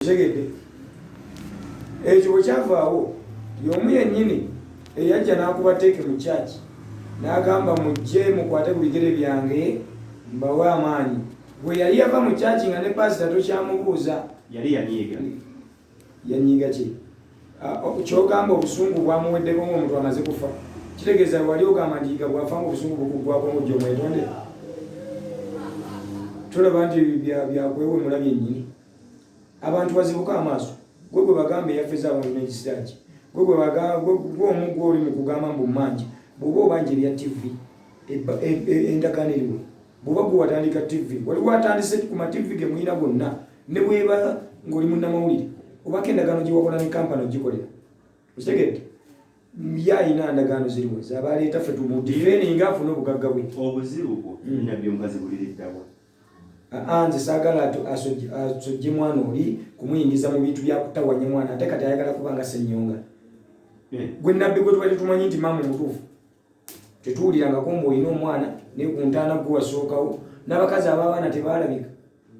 okitegedde ekyo bwe kyavaawo y'omu yennyini eyajja n'akuba teeke mu kyaki n'agamba mujje mukwate ku bigere byange mbawe amaanyi bwe yali yava mu kyaki nga ne paasita tokyamubuuza yali yanyiiga yanyiiga ki ah, kyogamba obusungu bwamuweddeko ngaomuntu amaze kufa kitegeeza wali ogamba nti yiga bwafa nga obusungu bukugwako ngujja omwetonde tulaba nti byakwewemula byennyini abantu bazibuka amaaso gwe gwe bagamba eyafeza abantu negisiraaki gwe gwe omu gwoli mu kugamba mbu manja bwoba obanja ebya tv endagaano eriwo bwoba gwe watandika tv waliwo atandise ku mativi ge muyina gonna ne bweba ng'oli munnamawulire obako endagaano gye wakola ne kampani ogikolera okitegedde ye alina ndagaano ziriwo zabaaleeta fe tumudireninga afuna obugagga bwe obuzibu bwo mm. nabbi omukazi buliriddawa nze saagala asojje mwana oli kumuyingiza mu bintu byakutawanya mwana ate kati ayagala kuba nga senyonga hmm. gwe nabbi gwe twali tumanyi nti maama omutuufu tetuwulirangako mbu olina omwana naye ku ntaana gwe wasookawo n'abakazi abaabaana tebaalabika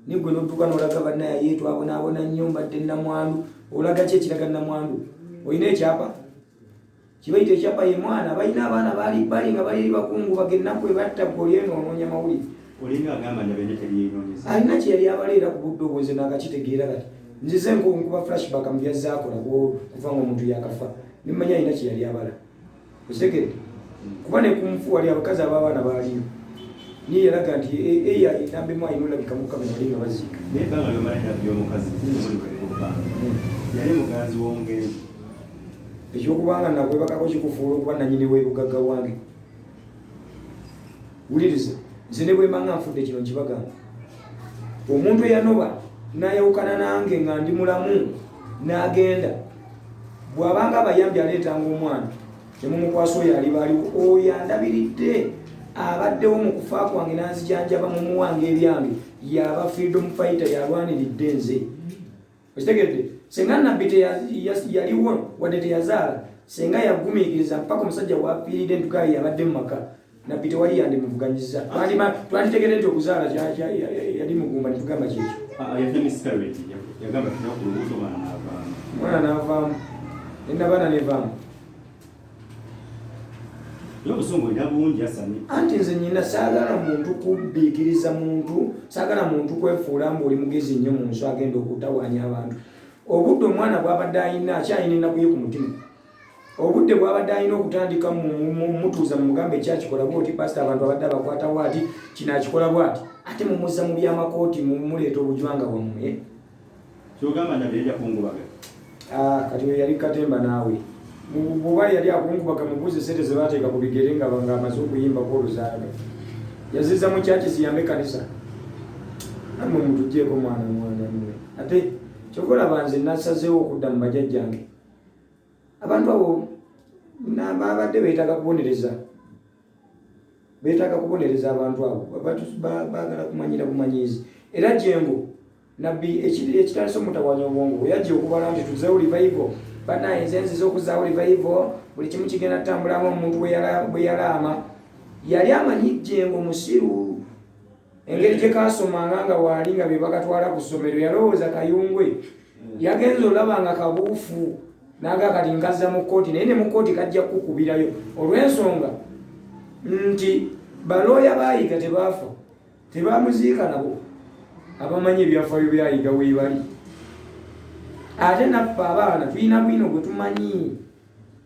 naye gwe notuuka nolaga banaye ye twabonaabona nnyo mbadde namwandu olaga ki ekiraga namwandu olina ekyapa kibaita ekyapa ye mwana balina abaana bali bali nga bali bakungu bagennaku ebatta goli eno onoonya mawulire olinga agamba nti abeenya tebyeyoneza alina kye yali abala era ku budde obwenze naakakitegeera kati nzize nkuba flashback mu byazaakola kuva nga omuntu yakafa nemanya alina kye yali abala osegede kuba ne ku nfu wali abakazi ab'abaana baaliyo niye yalaga nti eya enamba emu alina olabika mukama yali nga baziika naye banga lyomalina by'omukazi yali muganzi w'omugenzi ekyokubanga nakwebakako kikufuula okuba nanyini webugagga wange wuliriza nze ne bwemanga nfudde kino nkibagamba omuntu eyanoba nayawukana nange nga ndi mulamu nagenda bwabanga abayambi aleetanga omwana nemumukwasa oyo alibaaliwo oyo andabiridde abaddewo mu kufa kwange nanzijanjaba mumuwange ebyange yaba freedom fighter yalwaniridde nze okitegedde singa nabbi yaliwo wadde teyazaala singa yagumiikiriza mpaka omusajja wafiiride ntukayi yabadde mu maka nabbi tewali yandimuvuganyiza twanditegede nti okuzaala yali mugumba netugamba kyekyo ah, ah, mwana navaamu enabaana nevaamu anti nze nyina saagala muntu kubbiikiriza muntu saagala muntu kwefuula mbu oli mugezi nnyo mu nsi agenda okutawaanya abantu obudde omwana bwabadde alina akyalina ennaku ye ku mutima obudde bwabadde alina okutandika mutuuza mumugambo ekyakikola bwoti pasita abantu abadde abakwata bwati kino akikola bwati ate mumuzza mu byamakooti mumuleeta obujwanga bwammwe Kyogamba Ndabira yajja kungubaga? Ah, kati oyo yali katemba naawe. Bwoba yali akungubaga mubuuze sente zebateeka ku bigere nga amaze okuyimba ku oluzaaga. Yaziza mu kyaki ziyambe kanisa. Namwe mutujeeko mwana mwana mwe. Ate kyova olaba nze nasazeewo okudda mu bajajjange. Abantu abo nababadde beetaaga kubonereza. betaaga kubonereza abantu abo bagala kumanyira bumanyizi era jengo nabbi ekitandisa omutawanya obwongo weyajja okubala nti tuzewo livayivo banaye nze nziza okuzawo livayivo buli kimu kigenda tutambulamu omuntu bweyalaama yali amanyi jengo musiru engeri gye kaasomanga nga waali nga be bakatwala ku ssomero yalowooza kayungwe yagenza olaba nga kabuufu naga kati nkazza mu kkooti naye ne mu kkooti kajja kukubirayo olw'ensonga nti balooya baayiga tebaafa tebamuziika nabo abamanyi ebyafaayo byayiga weebali ate naffe abaana tulina bwino gwe tumanyi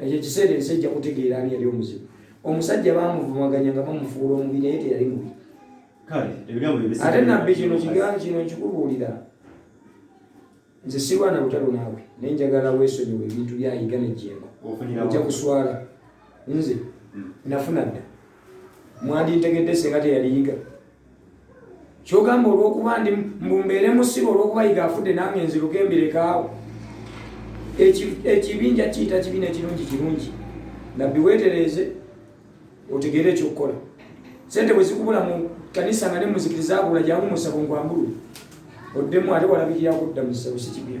ekyo ekiseera ensi ejja kutegeera ani yali omuzibu omusajja bamuvumaganya nga bamufuula omubi naye teyali mubi ate nabbi kino kigaa kino nkikubuulira nze sirwana butalo naawe naye njagala weesonyiwa ebintu byayiga nejjemba ojja kuswala nze hmm. nafuna dda mwandintegedde senga teyaliyiga kyogamba olwokuba ndi mbumbeere musibe olwokuba yiga afudde nange nziruka embirekawo ekibinja kiyita kibi nekirungi kirungi nabbi wetereeze otegeere ekyokukola sente bwezikubula mu kanisa nga nemuzikiriza abula jangu musabo ngwambulu oddemu ate walabikira kudda musabo sikibya